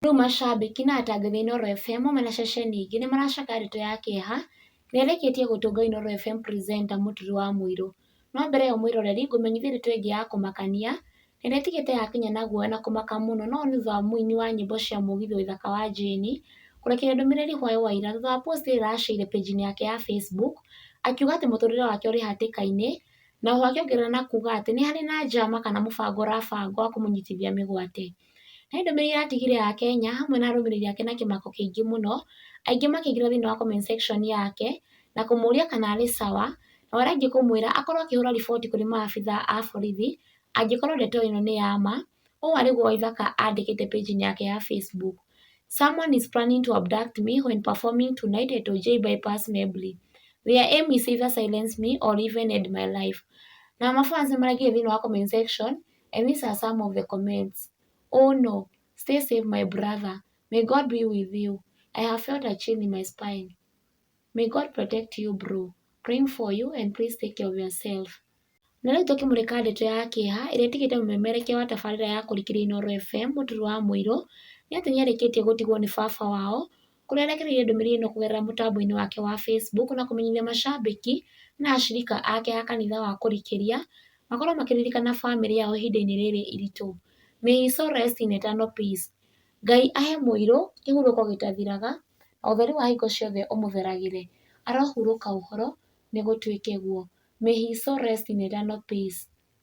Rĩu macambĩki na atangathi a Inooro FM hamwe na ceceni ingĩ nĩ maracakayaga ndeto ya kĩeha ĩrĩa ĩrĩkĩtie gũtũnga Inooro FM presenter Mũturi wa Mũirũ. No mbere ĩyo mwĩroreri ngũmenyithie ndeto ĩngĩ ya kũmakania na ĩrĩa ĩtigĩte Akenya na guoya na kũmaka mũno no nĩ thutha wa mũini wa nyĩmbo cia mũgithi Waithaka wa Jane kũrekereria ndũmĩrĩri hwaĩ wa ira thutha wa post ĩrĩa ĩracĩire page -inĩ yake ya Facebook akiuga atĩ mũtũrĩre wake ũrĩ hatĩka-inĩ na oho akĩongerera na kuga atĩ nĩ harĩ na njama kana mũbango ũrabangwo wa kũmũnyitithia mĩgwate. He ndũmĩrĩri atigire ya Kenya hamwe na arũmĩrĩri ake na kĩmako kĩingĩ mũno, aingĩ makĩingĩra thĩinĩ wa comment section yake na kũmũria kana arĩ sawa, nao arĩa angĩ kũmwĩra akorwo akĩhũra riboti kũrĩ maabitha a borithi angĩkorwo ndeto ĩno nĩ ya ma, ũũ arĩguo Waithaka andĩkĩte page inĩ yake ya Facebook. Someone is planning to abduct me when performing tonight at Ojai Bypass Mebli. Their aim is either silence me or even end my life. Na ma fans nĩ maraingĩrire thĩinĩ wa comment section and these are some of the comments oh no stay safe my brother may God be with you I have felt a chill in my spine may God protect you bro praying for you and please take care of yourself na rĩu tũkĩmũrĩka ndeto ya kĩeha ĩrĩa ĩtigĩte mũmemerekia wa tabarĩra ya kũrikĩria Inoro FM mũturu wa mũirũ nĩ atĩ nĩarĩkĩtie gũtigwo nĩ baba wao kũrĩa arekereirie ndũmĩrĩri ĩno kũgerera mũtambo-inĩ wake wa Facebook na kũmenyithia macambĩki na acirika ake a kanitha wa kũrikĩria makorwo makĩririkana bamĩrĩ yao ihinda-inĩ rĩrĩ iritũ. May his soul rest in eternal peace. Ngai ahe mũirũ kĩhurũko gĩtathiraga, na ũtheri wa hingo ciothe ũmũtheragĩre. Arohurũka ũhoro, nĩ gũtuĩke guo. May his soul rest in eternal peace.